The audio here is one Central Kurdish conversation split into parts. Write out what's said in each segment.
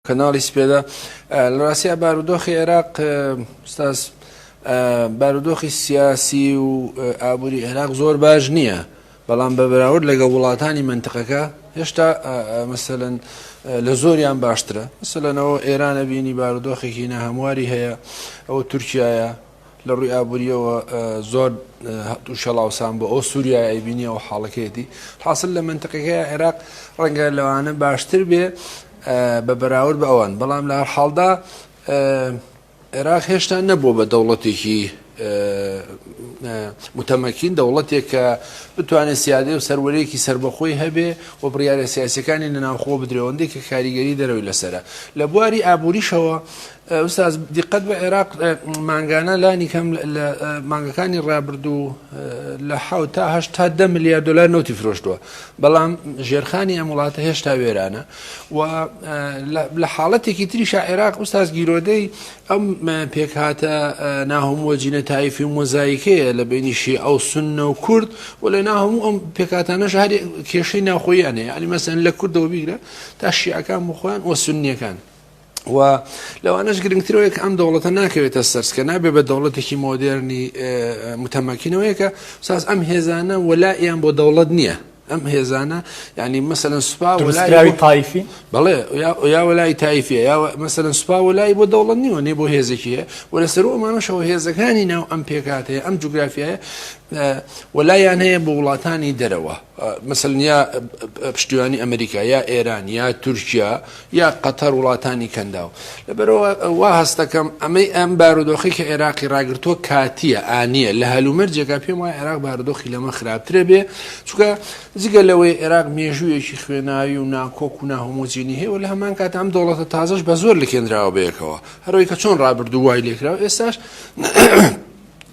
کەناڵی سپێدا لە ڕاستیا بارودۆخی عێراق ستاس بارودۆخی سیاسی و ئابووری عێراق زۆر باش نییە بەڵام بە بەراورد لەگە وڵاتانی منتقەکە هێشتا مەسەن لە زۆریان باشترە سەلەنەوە ئێرانە بینی بارودۆخێکی نە هەمواری هەیە ئەوە تورکایە لە ڕووی ئابوورییەوە زۆر تووشی هەڵاوسان بوو، ئەو سووریای ئەیبینی ئەو حاڵەکەیەتی، حاسل لە مەنتقەکەی عێراق ڕەنگە لەوانە باشتر بێ بە بەراورد بە ئەوان، بەڵام لە هەرحاڵدا عێراق هێشتا نەبووە بە دەوڵەتێکی متەمەکین، دەوڵەتێک کە بتوانێت سیادەی و سەروەریەکی سەربەخۆی هەبێ و بڕیارە سیاسیەکانی لە ناوخۆوە بدرێ، ئەوەندەی کە کاریگەری دەرەوەی لەسەرە لە بواری ئابووریشەوە ئوستاز دیقەت بە عێراق مانگانە لانی کەم لە مانگەکانی ڕابردوو لە ح تا هه تا ده ملیار دلار نوتی فرۆشتووە بەڵام ژێرخانی ئەم وڵاتە هێشتا وێرانە و لە حاڵەتێکی تریشا عێراق ئوستاز گیرۆدەی ئەم پێکهاتە ناهمووە جینە تایفی و مۆزایکەیە لە بینیشی ئەو سنە و کورد و لە ناهموو ئەم پێکاتانە ژاری کێشەی ناخۆیانەیە علی مەسەن لە کوردەوە بیگرە تا شیعەکان بخۆیان و سنیەکان و لەوانەش گرنگترەوەیە کە ئەم دەوڵەتە ناکەوێتە سەرسکە نابێ بە دەوڵەتێکی مۆدێرنی متەمەکینەوەیە کە ساز ئەم هێزانە وەلا یان بۆ دەوڵەت نییە ئەم هێزانە ینی مەسەن سوپا وەلاوی تایفی بڵێ یا وەلای تایفە یا مەسەن سوپا وەلای بۆ دەوڵەت نیوە نێ بۆ هێزێکیە و لە سەر ئەمانەشەوە هێزەکانی ناو ئەم پێکاتەیە ئەم جوگرافایە وەلایان هەیە بۆ وڵاتانی دەرەوە مەسەلەن یا پشتیوانی ئەمریکا یا ئێران یا تورکیا یا قەتەر وڵاتانی کەنداو لەبەرەوە وا هەستەکەم ئەمەی ئەم بارودۆخی کە عێراقی ڕاگرتووە کاتیە ئانیە لە هەلومەرجێکا پێم وای عێراق بارودۆخی لەمە خراپترە بێ چکە جگە لەوەی عێراق مێژوویەکی خوێناوی و ناکۆک و ناهۆمۆجینی هەیە و لە هەمان کات ئەم دەوڵەتە تازەش بە زۆر لەکێنراوە بەیەکەوە هەروەی کە چۆن ڕابردوو وای لێکراوە ئێستاش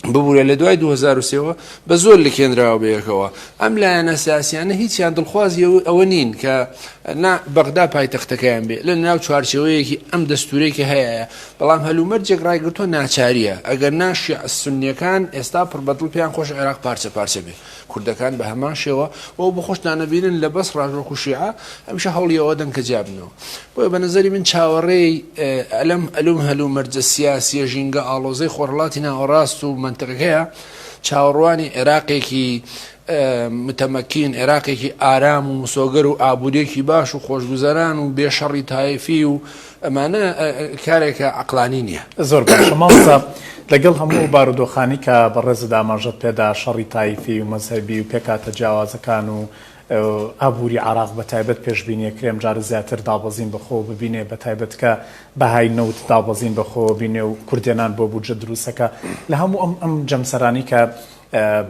ببورە لە دوای 2023ەوە بە زۆر لکێنراوە بەیەکەوە ئەم لایەنە سیاسیانە هیچیان دڵخوازی ئەوە نین کە نا بەغدا پایتەختەکەیان بێ لە ناو چوارچەوەیەکی ئەم دەستورەی کە هەیە بەڵام هەلومەرجێک ڕایگرتووە ناچاریە ئەگەر ناشی سنیەکان ئێستا پڕبەدڵ پێیان خۆش عێراق پارچە پارچە بێ کوردەکان بە هەمان شێوە بۆ بە خۆشتان نەبینن لە بەس ڕاژۆک و شیعە هەمیشە هەوڵی ئەوە دەن کە جیابنەوە بۆیە بە نظری من چاوەڕێی ئەلم ئەلوم هەلو مەرجە سیاسیە ژینگە ئاڵۆزەی خۆرڵاتی ناوەڕاست و منتەقەکەیە چاوەڕوانی عێراقێکی متەمەکین عێراقێکی ئارام و مسۆگەر و ئابوووریەکی باش و خۆشگوزەران و بێشەڕی تایفی و ئەمانە کارێکە عەقلانی نیە. زۆر باشە مامۆستا لەگەڵ هەموو ئەو بارودۆخانەی کە بەڕێزت ئاماژەت پێدا شەڕی تایفی و مەزهەبی و پێکهاتە جیاوازەکان و ئابوری عێراق بەتایبەت پێشبینی ئەکرێ ئەمجارە زیاتر دابەزین بەخۆوە ببینێ بەتایبەت کە بەهای نەوت دابەزین بەخۆوە بینێ و کوردێنان بۆ بودجە دروستەکە لە هەموو ئەم ئەم جەمسەرانی کە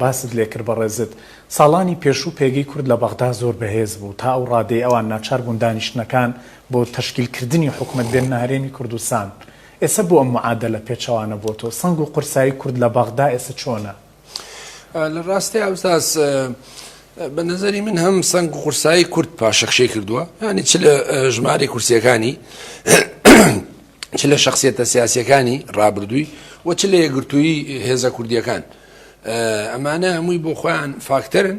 باست لێکرد بەڕێزت ساڵانی پێشوو پێگەی کورد لە بەغدا زۆر بەهێز بوو تا ئەو ڕادەی ئەوان ناچار بوون دانیشتنەکان بۆ تەشکیل کردنی حکومەت بێننە هەرێمی کوردستان ئێسە بۆ ئەم معادەلە پێچەوانە بۆ تۆ سەنگ و قورسایی کورد لە بەغدا ئێسە چۆنە؟ لە ڕاستی ئەوساس بە نظری من هەم سەنگ و قورسایی کورد پاشەخشی کردووە ینی چ لە ژماری کورسیەکانی چ لە شخصیتە سیاسەکانی ڕابردووی و چ لە یەگرتووی هێزە کوردیەکان ئەمانە هەمووی بۆ خۆیان فاکتەرن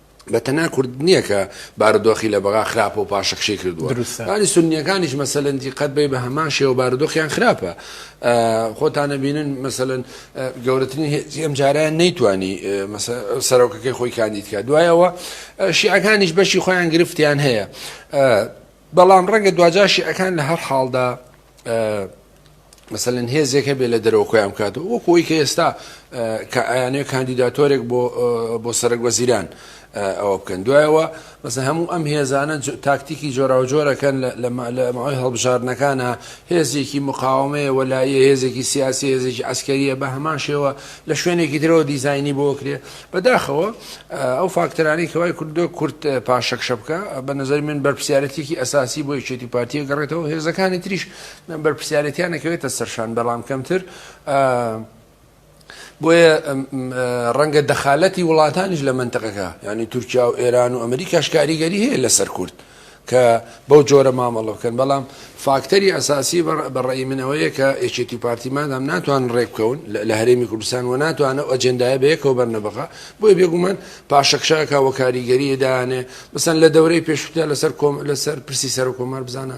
بە تەنها کورد نییە کە بارودۆخی لە بەغا خراپە و پاشەکشەی کردووە دروستانی سنیەکانیش مەسەلەنتی قەت بێ بە هەمان شێوە بارودۆخیان خراپە خۆتانە بینن مەسەن گەورەترین ئەم جاریان نەیتوانی سەرۆکەکەی خۆی کاندیدکە دوایەوە شیعەکانیش بەشی خۆیان گرفتیان هەیە بەڵام ڕەنگە دواجاشی ئەکان لە هەر حاڵدا مەسەلەن هێزێک هەبێ لە دەرەوە خۆیان بکاتەوە وەکو ئەوی کە ئێستا کە ئەیانەیە کاندیداتۆرێک بۆ سەرک وەزیران ئەوە بکەن دوایەوە بەسە هەموو ئەم هێزانە تاکتیکی جۆراوجۆرەکەن لە ماوەی هەڵبژاردنەکانە هێزێکی مقاومەیە وەلایە هێزێکی سیاسی هێزێکی ئەسکەریە بە هەمان شێوە لە شوێنێکی درەوە دیزایانی بۆ کرێ بەداخەوە ئەو فاکتەرانی کەوای کوردۆ کورت پاشەکشە بکە بە نظر من بەرپسیارەتێکی ئەساسی بۆ یەکێتی پارتیە گەڕێتەوە هێزەکانی تریش بەرپرسیارێتیان نەکەوێتە سەرشان بەڵام کەمتر بۆیە ڕەنگە دەخالەتی وڵاتانیش لە منتەقەکە ینی تورکیا و ئێران و ئەمریکاش کاریگەری هەیە لەسەر کورد کە بەو جۆرە مامەڵە بکەن بەڵام فاکتەری ئەساسی بەڕێی منەوەیە کە ئێچێتی پارتیمادام ناتوان ڕێککەون لە هەرێمی کوردستان و ناتوانە ئەجندای بەیەکەوە بەرنەبغا بۆی بێگومان پاشەکشاکە وەکاریگەری دانێ بسەن لە دەورەی پێشوتە لەسەر کۆم لەسەر پرسی سەر کۆمار بزانە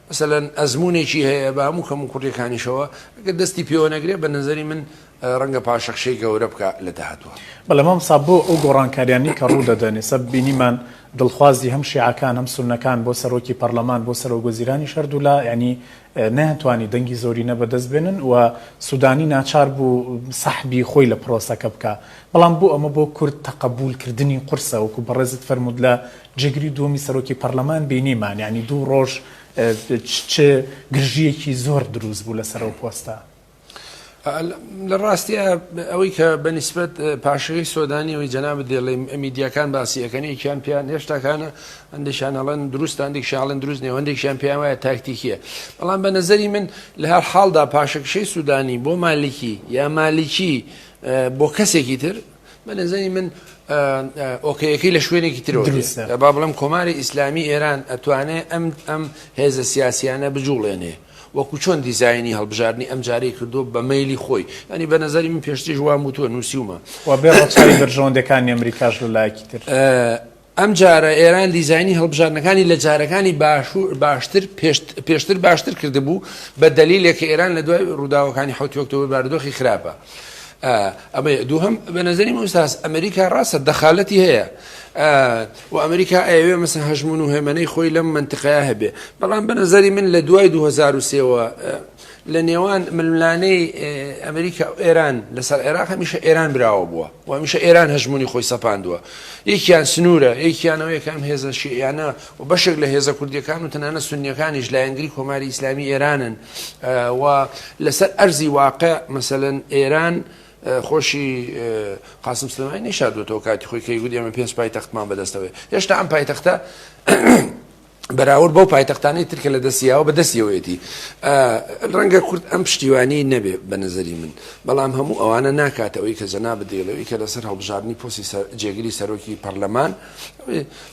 مەسەلەن ئەزموونێکی هەیە بە هەموو کەم و کوڕیەکانیشەوە گەر دەستی پێوە نەگرێ بە نەزەری من ڕەنگە پاشەکشەی گەورە بکا لە داهاتووە. بەڵێ مامۆستا بۆ ئەو گۆڕانکاریانەی کە ڕوو دەدەن ئێستا بینیمان دڵخوازی هەم شیعەکان هەم سوننەکان بۆ سەرۆکی پەڕلەمان بۆ سەرۆک وەزیرانیش هەردوولا یانی نەیانتوانی دەنگی زۆرینە بەدەست بێنن و سودانی ناچار بوو سەحبی خۆی لە پڕۆسەکە بکا بەڵام بۆ ئەمە بۆ کورد تەقەبوول کردنی قورسە وەکو بەڕێزت فەرموود لە جێگری دووەمی سەرۆکی پەڕلەمان بینیمان یانی دوو ڕۆژ چ گرژیەکی زۆر دروست بوو لەسەر ئەو پۆستە. لە ڕاستە ئەوەی کە بە نسبەت پاشەی سۆدانی ئەوی جەناب دێڵێ ئەمیدیەکان باسی ئەەکەنێکیان پێیان هێشتاکانە ئەندێکیان هەڵەن دروست ئەندێکشاڵن دروست نێ هەندێکیان پێیان وایە تاکتیکیە بەڵام بە نظری من لە هەر حاڵدا پاشەکشەی سوودانی بۆ مالیکی یا مالیکی بۆ کەسێکی تر بە نەزەری من ئۆکەیەکەی لە شوێنێکی ترۆ با بڵم کۆماری ئیسلامی ئێران ئەتوانێ ئەم ئەم هێزە سیاسیانە بجوڵێنێ وەکو چۆن دیزایانی هەڵبژارنی ئەم جارەی کردو بە میلی خۆی ئەنی بە نظری من پێشتیش وام وتوە نووسیومە بەرژەوەندەکانی ئەمریکاش لەلایەکی تر ئەمجارە ئێران دیزاینی هەڵبژاردنەکانی لە جارەکانی باشتر پێشتر باشتر کردبوو بە دەلیلێک کە ئێران لە دوای ڕووداوەکانی حوتی ئۆکتۆبر بارودۆخی خراپە. ئەمە دووهم بە نظری مستاس ئەمریکا ڕاستە دەخالەتی هەیە و ئەمریکا ئەوێ مەسن هەژمون و هێمنەی خۆی لەم منتقەیە هەبێ بەڵام بە نظری من لە دوای 2023ەوە لە نێوان ململانێی ئەمریکا و ئێران لەسەر عێراق هەمیشە ئێران براوە بووە و هەمیشە ئێران هەژمونی خۆی سەپاندووە یەکیان سنوورە یەکیانەوە یەکان هێزە شیعیانە و بەشێک لە هێزە کوردیەکان و تەنانە سنیەکانیش لایەنگری کۆماری ئیسلامی ئێرانن و لەسەر ئەرزی واقع مەسەن ئێران خۆشی قاسم سلمای نیشادوەتەوە کاتی خۆی کەی گوت ئێمە پێنج پایتەختمان بەدەستەوەێ هێشتا ئەم پایتەختە بەراورد بەو پایتەختانەی تر کە لە دەستیاوە بە دەستیەوەیەتی ڕەنگە کورد ئەم پشتیوانی نەبێ بە نظری من بەڵام هەموو ئەوانە ناکاتەوەی کە جەنا بدەیڵەوەی کە لەسەر هەڵبژاردننی پۆسی جێگری سەرۆکی پەرلەمان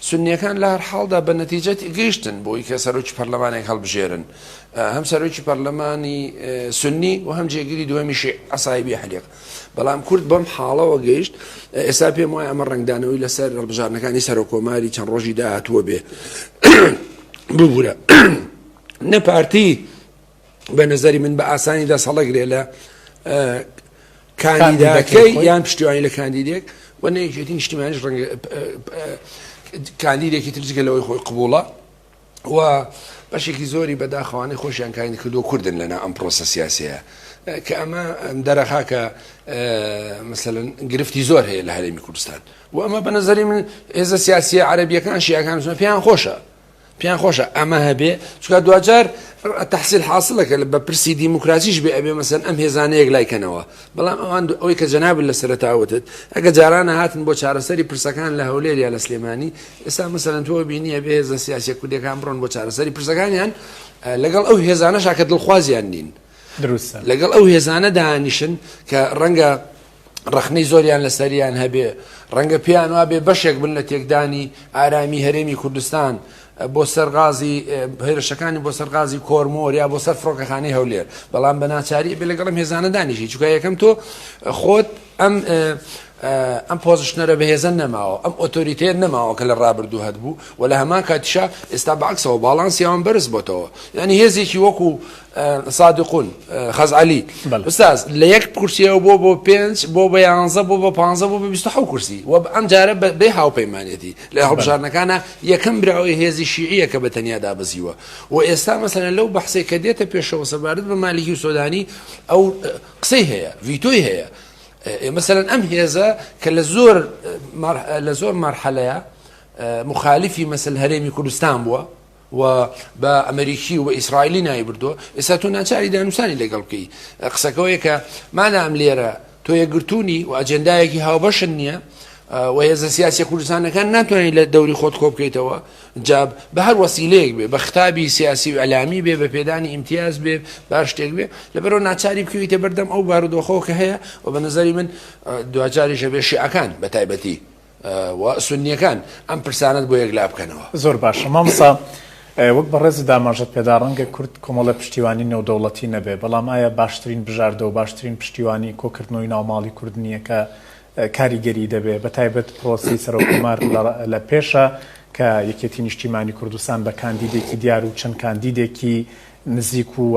سنیەکان لە هەر حاڵدا بە نەتیجەتی گەیشتن بۆی کە سەرۆکی پەرلەمانێک هەڵبژێرن هەم سەرۆکی پەرلەمانی سنی و هەم جێگری دووەمیشی عسایبی حلق بەڵام کورد بەم حاڵەوە گەیشت، ئێستا پێم وایە ئەمە ڕەنگدانەوەی لەسەر هەڵبژاردنەکانی سەرۆککۆماری چەند ڕۆژی داهاتووە بێ ببوورە نە پارتی بە نەزەری من بە ئاسانی دەست هەڵەگرێ لە کاندیدەکەی یان پشتیوانی لە کاندیدێک و نەیەکێتی نیشتیمانیش ڕەنگە کاندیدێکی ترجگە لەوەی خۆی قبوڵە و بەشێکی زۆری بەداخەوانەی خۆشیان کاینی کردو کوردن لەنا ئەم پرۆسە سیاسەیە کە ئەمە دەرەخا کە مثلەن گرفتی زۆر هەیە لە هەرێمی کوردستان و ئەمە بە نظری من ئێزە سیاسی عربیەکان شیعەکان زۆر پێیان خۆشە پێیان خۆشە ئەمە هەبێ چکە دوجار تحصیل حاصلەکە لە بە پرسی دیموکراسیش بێ ئەبێ مەسەن ئەم هێزانەیەک لایکەنەوە بەڵام ئەوان ئەوەی کە جەنابت لە سەرەتا وتت ئەگە جاران هاتن بۆ چارەسەری پرسەکان لە هەولێر یا لە سلێمانی ئێستا مەسەرەن تۆ بینیە بێ هێزە سیاسە کوردەکان بڕۆن بۆ چارەسەری پرسەکانیان لەگەڵ ئەو هێزانەشا کە دڵخوازیان نین دروستە لەگەڵ ئەو هێزانە دانیشن کە ڕەنگە ڕخنەی زۆریان لە سەریان هەبێ ڕەنگە پێیان وابێ بەشێک بن لە تێکدانی ئارامی هەرێمی کوردستان بۆ سەر غازی هێرشەکانی بۆ سەر غازی کۆرمۆر یا بۆ سەر فڕۆکەخانەی هەولێر بەڵام بە ناچاری بێ لەگەڵم هێزانە دانیشی چکە یەکەم تۆ خۆت ئەم ئەم پۆزشنەرە بەهێزە نەماوە ئەم ئۆتۆریتێت نەماوە کە لە ڕابردوو هەت بوو و لە هەمان کاتیشا ئێستا بەعکسەوە باڵانسییاوان بەرز بۆتەوە یعنی هێزێکی وەکو سادقون خەزعەلی استاز لە یەک کورسیەوە بۆ بۆ پێنج بۆ بە یانزە بۆ بە پ بۆ بە بیست حو کورسی و ئەم جارە بێ هاوپەیمانەتی لە هەڵبژارنەکانە یەکەم براوەی هێزی شیعە کە بە تەنیا دابزیوە و ئێستا مەسەنە لەو بەحسێ کە دێتە پێشەوە سەبارەت بە مالیکی و سۆدانی ئەو قسەی هەیە ڤیتۆی هەیە مثلەن ئەم هێزە کە لە زۆر لە زۆر مەرحەلەیە مخالفی مەسل هەرێمی کوردستان بووە و بە ئەمریکی و بە ئیسرائیلی ناوی بردووە ئێستا تۆ ناچاری دانوسانی لەگەڵ بکەی قسەکەەوەیە کە مانام لێرە تۆ یەکگرتوونی و ئەجندایەکی هاوبەشن نییە و هێزە سیاسی کوردستانەکان ناتوانین لە دەوری خۆت کۆ بکەیتەوە جاب بە هەر وەسیلەیەک بێ بە خراوی سیاسی و ئەلامی بێ بە پێدانی ئیمتیاز بێ باش شتێک بێ لەبەرەوە ناچاری بکەویتە بەردەم ئەو بارودۆخەوە کە هەیە و بە نظری من دواجاریشە بێ شیعەکان بە تایبەتی و سونیەکان ئەم پرسانەت بۆ یەک لابکەنەوە. زۆر باشە مامۆستا وەک بەڕێزت داماژەت پێدا ڕەنگە کورد کۆمەڵە پشتیوانی نێودەوڵەتی نەبێ بەڵام ئایا باشترین بژاردە و باشترین پشتیوانی کۆکردنەوەی ناو ماڵی کورد نییە کە کاریگەری دەبێ بە تایبەت پرۆسی سەرۆک کۆمار لە پێشە کە یەکێتی نیشتیمانی کوردستان بە کاندیدێکی دیار و چەند کاندیدێکی نزیک و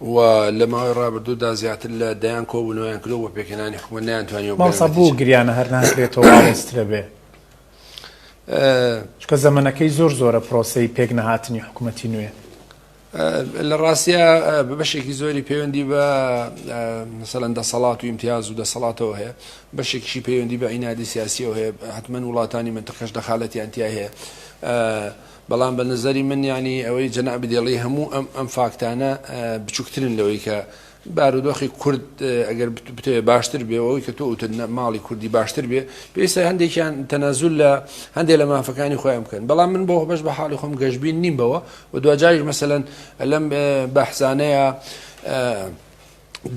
و لە ماوەی ڕابردوو دا زیاتر لە دەیان کۆبوونەوەیان کردووە بۆ پێکهێنانی حکومەت نەیانتوانیوە بگەنە نەتیجە. مامۆستا بۆ گریانە هەر ناکرێتەوە ئاڵۆزترە بێ؟ چونکە زەمەنەکەی زۆر زۆرە پرۆسەی پێک نەهاتنی حکومەتی نوێ. لە ڕاستیا بە بەشێکی زۆری پەیوەندی بە مەسەلەن دەسەڵات و ئیمتیاز و دەسەڵاتەوە هەیە بەشێکیشی پەیوەندی بە عینادی سیاسیەوە هەیە حتمما وڵاتانی منتەقەش دەخالەتیان تیا هەیە بەڵام بە نەزەری من یانی ئەوەی جەنابت دەڵی هەموو ئەم ئەم فاکتانە بچووکترن لەوەی کە بارودۆخی کورد ئەگەر بتەوێ باشتر بێ ئەوەی کە تۆ وتن ماڵی کوردی باشتر بێ پێویستە هەندێکیان تەنازول لە هەندێک لە مافەکانی خۆیان بکەن بەڵام من بۆ بەش بە حاڵی خۆم گەشببین نیم بەوە و دواجاریش مەسەن لەم بەحزانەیە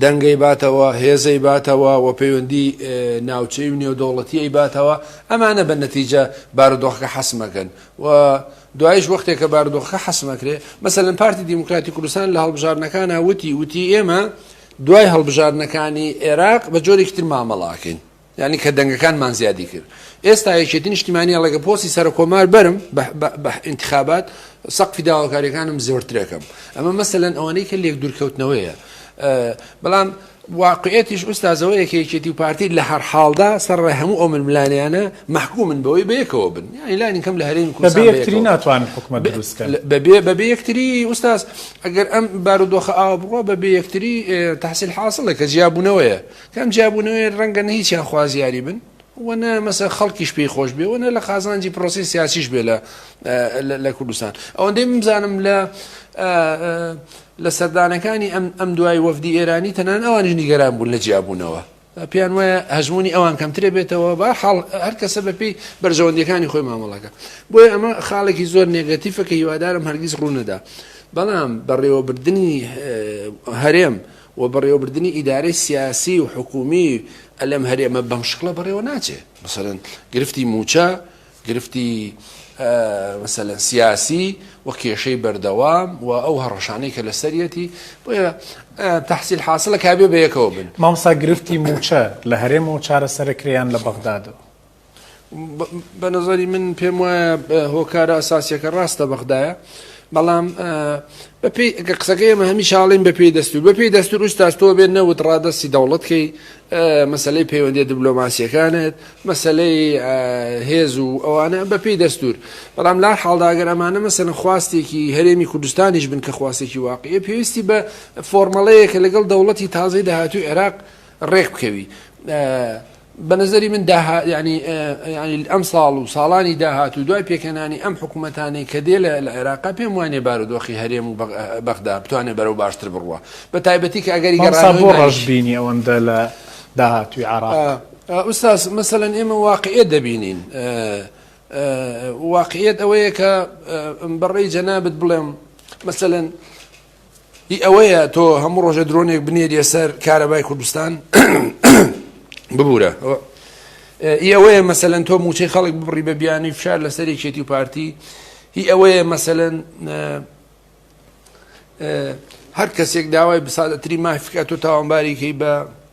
دەنگەی باتەوە هێزەی باتەوە و پەیوەندی ناوچەی و نێودەوڵەتیی باتەوە ئەمانە بە نەتیجە بارودۆخەکە حەسمەکەن و دوایش وەختێک کە بارودۆخەکە حەسمەکرێ مەسەن پارتی دیموکراتی کوردستان لە هەڵبژارنەکانە وتی وتی ئێمە دوای هەڵبژارنەکانی عێراق بە جۆرێکتر مامەڵاکەین یانی کە دەنگەکانمان زیادی کرد ئێستا یەکێتی نیشتیمانی ئەڵێگە پۆسی سەرکۆمار بەرم بە انتخابات سەقفی داواکاریەکانم زۆرترەکەم ئەمە مەسەلەن ئەوانەی کە لێک دوورکەوتنەوەیە بەڵام واقعێتیش ئوستازەوەیەکە یەکێتی و پارتی لە هەر حاڵدا سەرڕێ هەموو ئەو ململانیانە محکومن بەوەی بەیەکەوە بن یانیلانی کەم لە هەرێمی کوردستان ناتوان حکومت بەبێ یەکتری ئوستاز ئەگەر ئەم بارودۆخە ئاوا بڕوە بەبێ یەکتری تحصیل حاصلە کە جیاببوونەوەیە کەم جیابوونەوەیە ڕەنگە نە هیچیان خوازیاری بن و نە مەسە خەڵکیش پێی خۆش بێ و نە لە قازانجی پرۆسی سیاسیش بێ لە لە کوردستان ئەوەندەی بمزانم لە لە سەردانەکانی ئەم ئەم دوای وەفدی ئێرانی تەنان ئەوانش نیگەران بوون لە جیابوونەوە پێیان وایە هەژمونی ئەوان کەمترێ بێتەوە بە حاڵ هەر کەسە بەپی بەرژەوەندیەکانی خۆی مامەڵەکە بۆیە ئەمە خاڵێکی زۆر نێگەتیفە کە هیوادارم هەرگیز ڕوونەدا بەڵام بەڕێوەبردننی هەرێم و بەڕێوەبردنی ئیدارەی سیاسی و حکوومی ئە لەم هەرێمە بەم شکڵە بەڕێوە ناچێ. مەسەلەن گرفتی مووچە، گرفتی ئە مەسەلەن سیاسی و کێشەی بەردەوام و ئەو هەڕەشانەی کە لە سەریەتی، بۆیە ئە تەحسیل حاسڵە کابێ بە یەکەوە بن. مامۆستا گرفتی مووچە لە هەرێمەوە چارەسەرە کرێ یان لە بەغدادەوە؟ بە نەزەری من پێم وایە هۆکارە ئەساسیەکە ڕاستە بەغدایە بەڵام بەپی قسەکەی ئەمە هەمی شاڵین بەپی دەستور بەپی دەستور ئوستاستەوە بێت نەوت ڕادستی دەوڵەتکەی مەسلەی پەیوەندی دبلۆماسیەکانت مەسلەی هێز و ئەوانە بەپی دەستور بەڵام لا حاڵداگەر ئەمانە مەسەن خواستێکی هەرێمی کوردستانیش بن کە خواستێکی واقعی پێویستی بە فۆرمەڵەیەکە لەگەڵ دەوڵەتی تازەی داهاتوی عێراق ڕێک بکەوی بە نەزەری من داها یعنی یعنی ئەم ساڵ و ساڵانی داهات و دوای پێکەنانی ئەم حکوومەتانەی کە دێ لە عێراقا پێم وانێ بارودۆخی هەرێم و بەغدا بتوانێ بەرەو باشتر بڕوە بە تایبەتی کە ئەگەری گەڕان بۆ ڕژبینی ئەوەندە لە داهاتوی عراق ئوستاس مەسەەن ئێمە واقعێ دەبینین واقعێت ئەوەیە کە بەڕێی جەنابەت بڵێم مەسەەن ی ئەوەیە تۆ هەموو ڕۆژە درۆنێک بنێریە سەر کارەبای کوردستان ببوورە ئی ئەوەیە مەسەەن تۆ موچەی خەڵک ببڕی بە بیانی فشار لەسەر یەکێتی و پارتی هی ئەوەیە مەسەەن هەر کەسێک داوای بسادەتری مافکات و تاوانباریکەی بە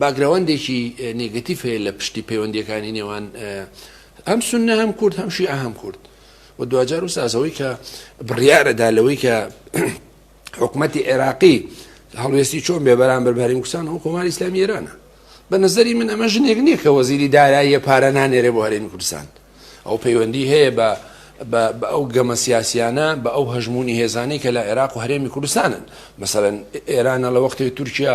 باکگراوندێکی نێگەتیڤ هەیە لە پشتی پەیوەندییەکانی نێوان هەم سنە هەم کورد هەم شیعە هەم کورد و دواجار و سازەوەی کە بڕیارەدا لەوەی کە حکوومەتی عێراقی هەڵوێستی چۆن بێ بەرامبەر بەریم کوسان و کۆماری ئسلامی ئێرانە بە نظری من ئەمە ژنێک نییە کە وەزیری داراییە پارە نانێرێ بۆ هەرێمی کوردستان ئەو پەیوەندی هەیە بە بە ئەو گەمە سیاسیانە بە ئەو هەژمونی هێزانەی کە لە عێراق و هەرێمی کوردستانن مەسەرەن ئێرانە لە وەختی تورکیا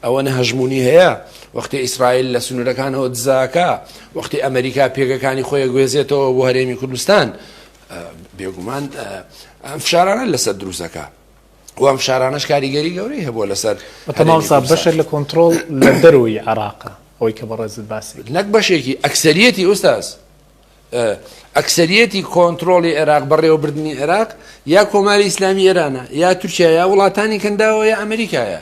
ئەوە نە هەژمونی هەیە وەختی ئیسرائیل لە سنوورەکانەوە دزاکە وەختی ئەمریکا پێگەکانی خۆی گوێزێتەوە بۆ هەرێمی کوردستان بێگومان ئەم فشارانە لەسەر دروستەکە و ئەم شارانەش کاریگەری گەورەی هەبووە لەسەر بەتەماوسا بەشێک لە کۆنتترۆل لە دەرەوەی عراقە ئەوەی کە بەڕێزت باسی نەک بەشێکی ئەکسریەتی ئوستاز ئەکسریەتی کۆنتترۆلی عێراق بەڕێوەبردننی عێراق یا کۆماری ئیسلامی ئێرانە یا تورکیا یا وڵاتانی کەنداوە یا ئەمریکایە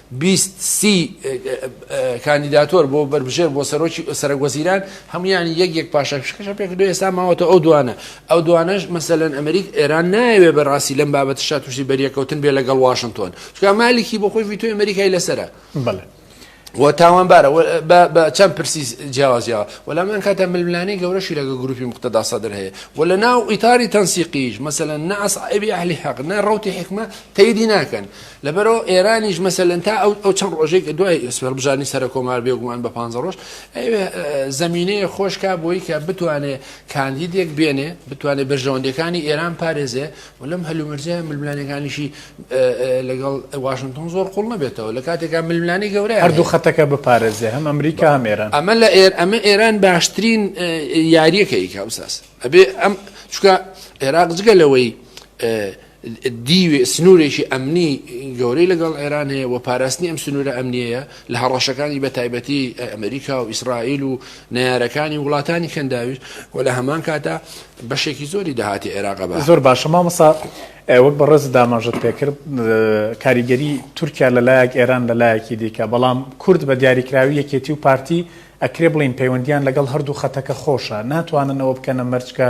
بیست سی کاندیداتۆر بۆ بەربژێر بۆ سەرۆکی سەرەک وەزیران هەمویانی یەک یەک پاشا فشکەشە پێک دو ئێستا ماوەتە ئەو دوانە ئەو دوانەش مەسەلەن ئەمریک ئێران نایەوێ بەڕاستی لەم بابەت شا تووشی بەریەکەوتن بێ لەگەڵ واشنتۆن چکە مالیکی بۆ خۆی ویتۆی ئەمریکای لەسرە بڵێ و تاوانبارە بە چەند پرسی جیاوازیەوە وەلامان کاتە ململانی گەورەشی لەگە گروپی مختدا سەدر هەیە و لە ناو ئیتاری تەنسیقیش مەسەن نەس ئەبی ئەهلی حەق نە ڕوتی حکمە تەیدی ناکەن لەبەرئەوە ئێرانیش مەسەلەن تا ئەو ئەو چەند ڕۆژێک کە دوای سوێڕبژانی سەرکۆمار بێگومان بە پانزە ڕۆژ ئەوێ زەمینەیە خۆشکا بۆی کە بتوانێ کاندیدێک بێنێ بتوانێت بەرژەوەندەکانی ئێران پارێزێ و لەم هەلومەرجە ململانەکانیشی لەگەڵ واشنگتۆن زۆر قوڵ نەبێتەوە لە کاتێکا ململانی گەورە هەردوو خەتەکە بپارێزێ هەم ئەمریکا هەم ئێران ئەمە لە ئێر ئەمە ئێران باشترین یاریەکە ئیکاوساس ئەبێ ئەم چکە عێراق جگە لەوەی دیوێ سنوورێکی ئەمنی گەورەی لەگەڵ ئێران هەیە و پاراستنی ئەم سنوورە ئەمنیەیە لە هەڕەشەکانی بە تایبەتی ئەمریکا و ئیسرائیل و نەیارەکانی وڵاتانی کەنداویش و لە هەمان کاتا بەشێکی زۆری داهاتی عێراقە بە زۆر باشە مامەسا وەک بە ڕێز داماژت پێکرد کاریگەری تورکیا لە لایەک ئێران لە لایەکی دیکە بەڵام کورد بە دیاریکراوی یەکێتی و پارتی ئەکرێ بڵین پەیوەندیان لەگەڵ هەردوو خەتەکە خۆشە ناتوانن ئەوە بکەنە مەرجکە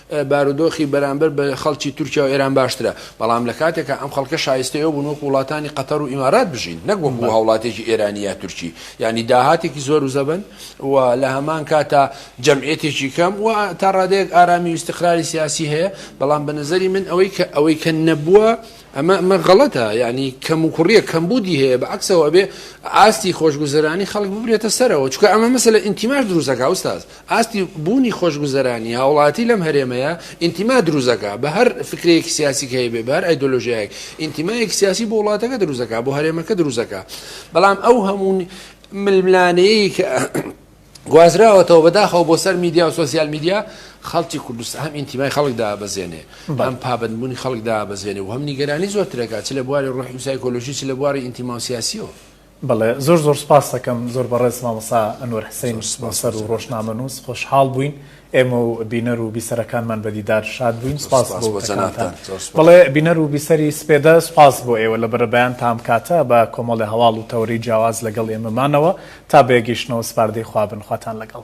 بارودۆخی بەرامبەر بە خەڵکی تورکیا و ئێران باشترە، بەڵام لە کاتێکا ئەم خەڵکە شایستەی ئەو بوون وەکو وڵاتانی قەتەر و ئیمارات بژین، نەک وەکو هاوڵاتیەکی ئێرانی یا تورکی، یانی داهاتێکی زۆر و زەبەن و لە هەمان کاتا جەمعیەتێکی کەم و تا ڕادەیەک ئارامی و ئیستقراری سیاسی هەیە، بەڵام بە نەزەری من ئەوەی کە ئەوەی کە نەبووە ئەمە ئەمە غەڵەتە یانی کەم و کوڕیە کەمبوودی هەیە بە عەکسەوە ئەبێ ئاستی خۆشگوزەرانی خەڵک ببرێتە سەرەوە چونکە ئەمە مەسەلە ئینتیماش دروست ئەکا ئوستاز. ئاستی بوونی خۆشگوزەرانی هاوڵاتی لەم هەرێمەیە ئینتیما دروست دەکات بە هەر فکرەیەکی سیاسیک هەیبێ بە هەر ئایدۆلۆژیایەک ئینتیمایەکی سیاسی بۆ وڵاتەکە دروست دەکات بۆ هەرێمەکە دروست دەکات بەڵام ئەو هەموو ململانەیەی کە گوازراوەتەوە بەداخەوە بۆ سەر میدیا و سوسیال میدیا خەڵکی کوردستان هەم ئینتیمای خەڵک دابەزێنێ هەم پابندبوونی خەڵک دابەزێنێ و هەم نیگەرانی زۆرترەکە چ لە بواری ڕۆحی و سایکۆلۆژی چ لە بواری ئینتیما و سیاسیەوە بەڵێ زۆر زۆر سپاستەکەم زۆر بەڕێز مامۆسا ئەنوەر حسین نوسەر و ڕۆژنامەنووس خۆشحاڵ بووین ئێمە و بینەر و بیسەرەکانمان بە دیدار شاد بووین سپاس بۆ وتەکانتان بەڵێ بینەر و بیسەری سپێدە سپاس بۆ ئێوە لە بەرەبەیانتان ئەم کاتە بە کۆمەڵێ هەواڵ و تەوەرەی جیاواز لەگەڵ ئێمەمانەوە تا بەیەکگەیشتنەوە سپاردەی خوا بن خواتان لەگەڵ.